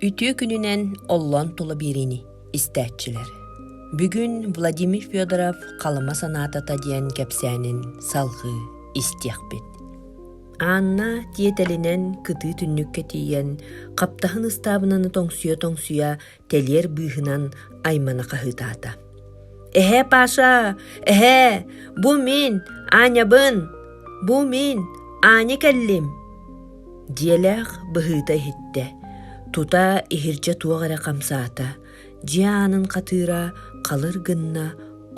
Үтүө күнүнэн оллон тула биэриини истээччилэр. Бүгүн Владимир Федоров Халыма санаатата диэн кэпсээнин салҕыы истиэхпит. Анна тиэтэлинэн кытыы түннүккэ тиийэн хаптаһын ыстаабынаны тоҥсуйа-тоҥсуйа тэлиэр быыһынан аймана хаһыытаата. Эһээ Паша, эһээ, бу мин, Аанньабын, бу мин, Аанньа кэллим, дьиэлээх быһыыта иһиттэ, тута иһирдьэ туох эрэ хамсаата, дьиэ аанын хатыыра халыр гынна,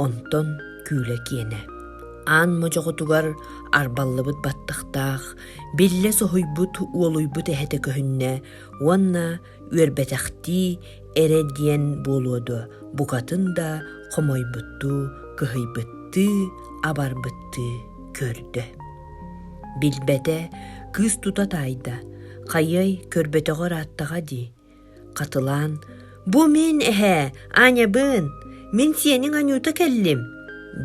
онтон күүлэ киэнэ. Аан модьоҕотугар арбаллыбыт баттахтаах, биллэ соһуйбут уолуйбут эһэтэ көһүннэ уонна үөрбэтэхтии эрэ диэн буолуо дуо букатын да хомойбуттуу кыһыйбыттыы абарбыттыы көрдө билбэтэ кыыс тута таайда хайыай көрбөтөҕө ырааттаҕа дии хатылаан бу мин эһээ ааньабын мин сиэниҥ анюта кэллим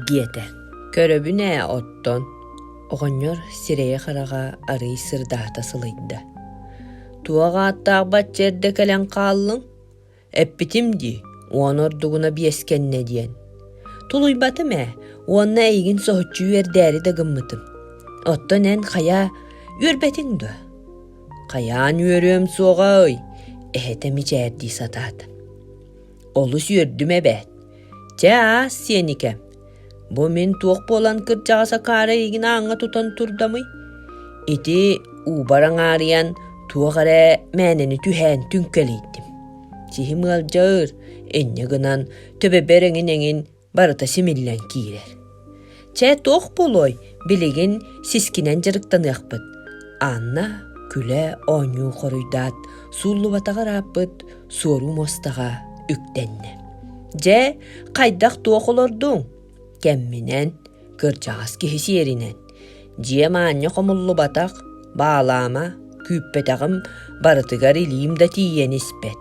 диэтэ көрөбүн ээ оттон оҕонньор сирэйэ-хараҕа арыый сырдаата сылыйда Туох ааттаах бачча кэлэн хааллыҥ? Эппитим дии, уон ордугуна биэскэннэ диэн. Тулуйбатым ээ, уонна эйигин соһуччу үөрдээри да гыммытым. Оттон эн хайаа үөрбэтиҥ дуо? Хайаан үөрүөм суоҕа ый, эһэтэ мичээрдии сатаата. Олус үөрдүм эбээт. Чэ аас сиэникэ. Бу мин туох буолан кырдьаҕас акаары игин ааҥҥа тутан турдамый? Ити уубар аҥаарыйан туох эрэ мээнэни түһээн түҥкэлийтим. Сиһим ыалдьар, инньэ гынан төбөбөр эҥин-эҥин барыта симиллэн киирэр. Чэ, туох буолуой, билигин сискинэн дьарыктаныахпыт. Анна күлэ оонньуу хоруйдаат, сууллубатаҕа ырааппыт суоруу мостаҕа үктэннэ. Дьэ, хайдах туох олордуҥ? Кэмминэн Кырдьаҕас киһи сиэринэн, дьиэм аанньа хомуллубатах, баалаама, күүппэтэҕим, барытыгар илиим да тиийэн испэт.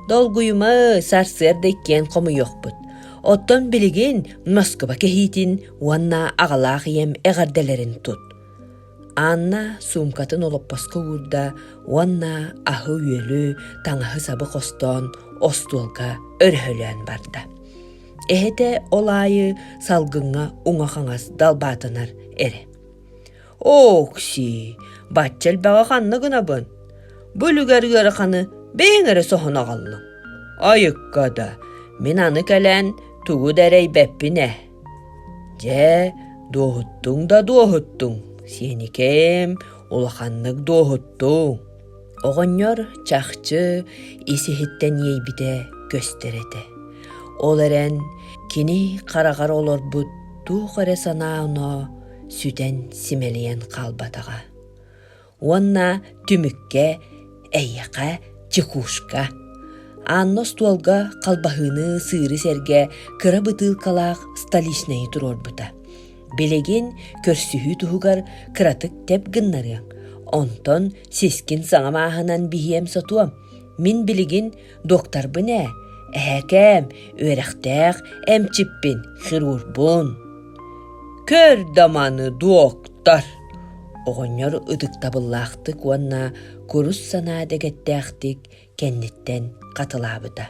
Долгуйума, сарсыарда иккиэн хомуйуохпут. Оттон билигин Москуба кэһиитин уонна аҕалаах ийэм эҕэрдэлэрин тут. Анна суумкатын олоппоско уурда уонна аһы-үөлү, таҥаһы-сабы хостоон остуолга өрөһөлөөн барда. Эһэтэ ол аайы салгыҥҥа уҥа хаҥас далбаатанар эрэ. «Окси, бачча элбэҕи ханна гынабын? Бу үлүгэр ыараханы бэйэҥ эрэ соһон аҕаллыҥ. Айыкка да, мин аны кэлэн тугу да эрэйбэппин ээ». «Дьэ, дуоһуттуҥ да дуоһуттуҥ, сиэникэм, улаханнык дуоһуттуҥ». Оҕонньор чахчы ис-иһиттэн иэйбитэ көстөр этэ. Ол эрэн кини хараҕар олорбут туох эрэ санаа-оноо сүтэн симэлийэн хаалбатаҕа. Уонна түмүккэ эйиэхэ чекушка Анна остуолга халбаһыыны сыыры сэргэ кыра бытыылкалаах столичнайы туруорбута. Билигин көрсүһүү туһугар кыратык тэп гыннарыаҥ, онтон сискин саҥа мааһынан биһиэм сотуом. Мин билигин докторбун ээ, эһэкээм, үөрэхтээх эмчиппин, хирургбун. Көр да маны, доктор! Оҕонньор ытыктабыллаахтык уонна курус санаа дэгэттээхтик кэнниттэн хатылаабыта.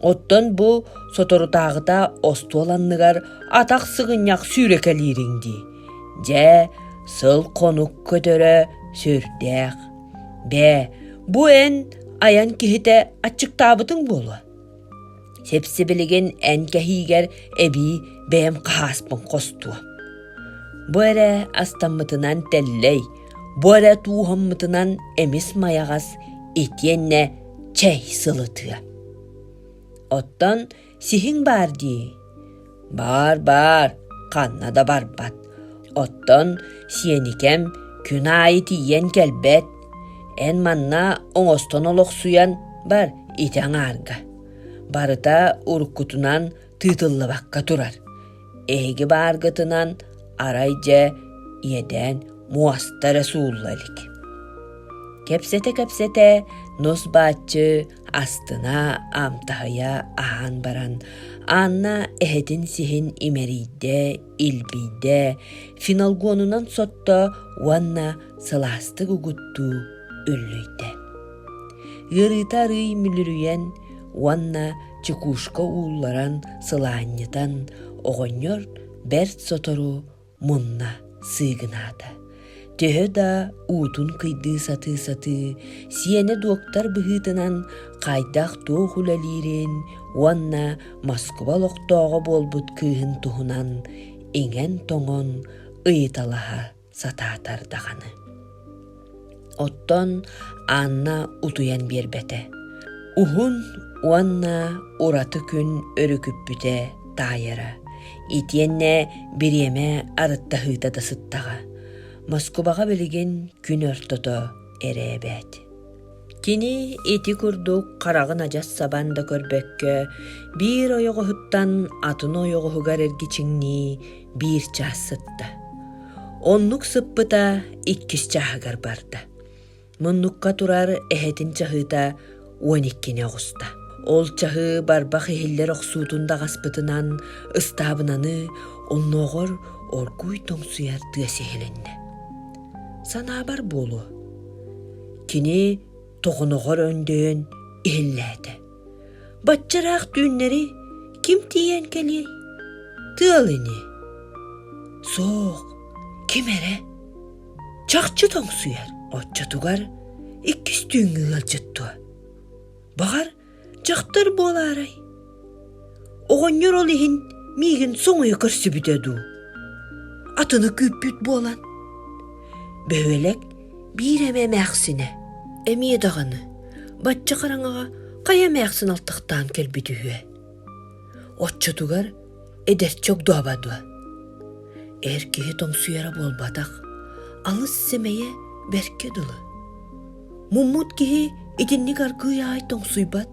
Оттон бу соторутааҕыта остуол анныгар атах сыгынньах сүүрэкэлиириҥ дии. Дьэ, сыл-хонук көтөрө сүрдээх. Бээ, бу эн айан киһитэ аччыктаабытыҥ буолуо. Сипсибилигин эн кэһиигэр эбии бэйэм хаһааспын хостуо. Бу эрэ астаммытынан тэллэй, бу эрэ тууһаммытынан эмис майаҕас итиэннэ чэй сылытыа. Оттон сиһиҥ баар дии. Баар, баар, ханна да барбат. Оттон сиэникэм күн аайы тиийэн кэлбэт. Эн манна оҥостон олохсуйан бар ити аҥаарга. Барыта уруккутунан тыытыллыбакка турар. Эһиги бааргытынан арай дьэ иэдээн муоста эрэ суулла илик. Кэпсэтэ-кэпсэтэ нус бааччы астына, аамтаһыйа аһаан баран, Анна эһэтин сиһин имэрийдэ, илбийдэ, финалгонунан сотто уонна сылаастык угуттуу үллүйдэ. Ыарыыта арыый мүлүрүйэн уонна чекушка уулларан сылаанньытан, оҕонньор бэрт сотору мунна сыыгынаата. Төһө да уутун кыйдыы сатыы-сатыы, сиэнэ доктор быһыытынан хайдах туох үлэлиирин уонна Москуба олохтооҕо буолбут кыыһын туһунан иҥэн-тоҥон ыйыталаһа сатаатар даҕаны. Оттон Анна утуйан биэрбэтэ. Уһун уонна ураты күн өрүкүппүтэ таайара. Итиэннэ бириэмэ арыттаһыыта да сыттаҕа. Москубаҕа билигин күн ортото эрэбээт. Кини ити курдук хараҕын адьас сабан да көрбөккө биир ойоҕоһуттан атын ойоҕоһугар эргичиҥнии биир чаас сытта. Оннук сыппыта иккис чааһыгар барда. Муннукка турар эһэтин чаһыыта уон иккини оҕуста. Ол чаһыы барбах иһиллэр охсуутун даҕаспытынан ыстаабынаны оннооҕор оргууй тоҥсуйар тыас иһилиннэ. Санаабар буолуо. Кини тоҕоноҕор өндөйөн иһиллээтэ. Бачча ыраах түүннэри ким тиийэн кэлиэй? Тыал ини. Суох, ким эрэ. Чахчы тоҥсуйар, оччотугар иккис түүҥҥү ыалдьыт дуо? Баҕар, Дьахтар буолаарай? Оҕонньор ол иһин миигин соҥуйа көрсүбүтэ дуу? Атыны күүппүт буолан. Бөһүөлэк биир эмэ эмээхсинэ, эмиэ даҕаны, бачча хараҥаҕа хайа эмээхсин алтахтаан кэлбит үһүө. Оччотугар эдэрчи огдооба дуо эр киһи тоҥсуйара буолбатах алыс сэмэйэ бэркэ дылы муммут киһи итинник аргыый аай тоҥсуйбат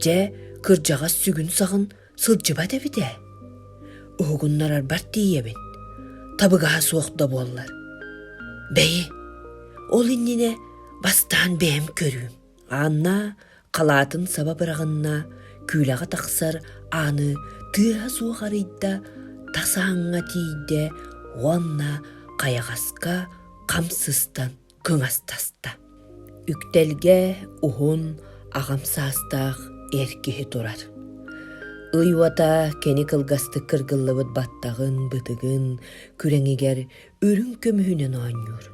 дьэ кырдьаҕас сүгүн-саҕын сылдьыбат эбит ээ уһугуннарарбар тиийэбин табыгаһа суох да буоллар бэйи ол иннинэ бастаан бэйэм көрүүм Анна халаатын саба быраҕынна, күүлэҕэ тахсар ааны тыаһа суох арыйда, тас ааҥҥа тиийдэ уонна хайаҕаска хам сыстан кыҥастаста. Үктэлгэ уһун, аҕам саастаах эр киһи турар. Ый уота кини кылгастык кыргыллыбыт баттаҕын, бытыгын, күрэҥигэр үрүҥ көмүһүнэн оонньуур.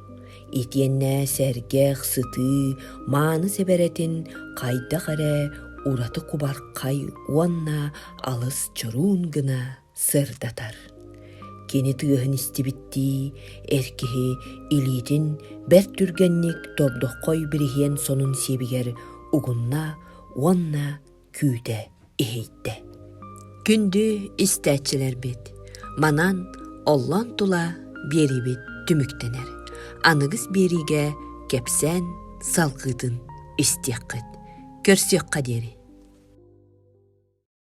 Итиэннэ сэргэх, сытыы, мааны сэбэрэтин хайдах эрэ ураты кубархай уонна алыс чоруун гына сырдатар. Кини тыаһын истибиттии, эр киһи илиитин бэрт түргэнник тордоххой бириһиэн сонун сиэбигэр угунна уонна күүтэ, иһийдэ. Күндү истээччилэрбит, манан оллон тула биэриибит түмүктэнэр. Аныгыс биэриигэ кэпсээн салгыытын истиэххит, көрсүөххэ диэри.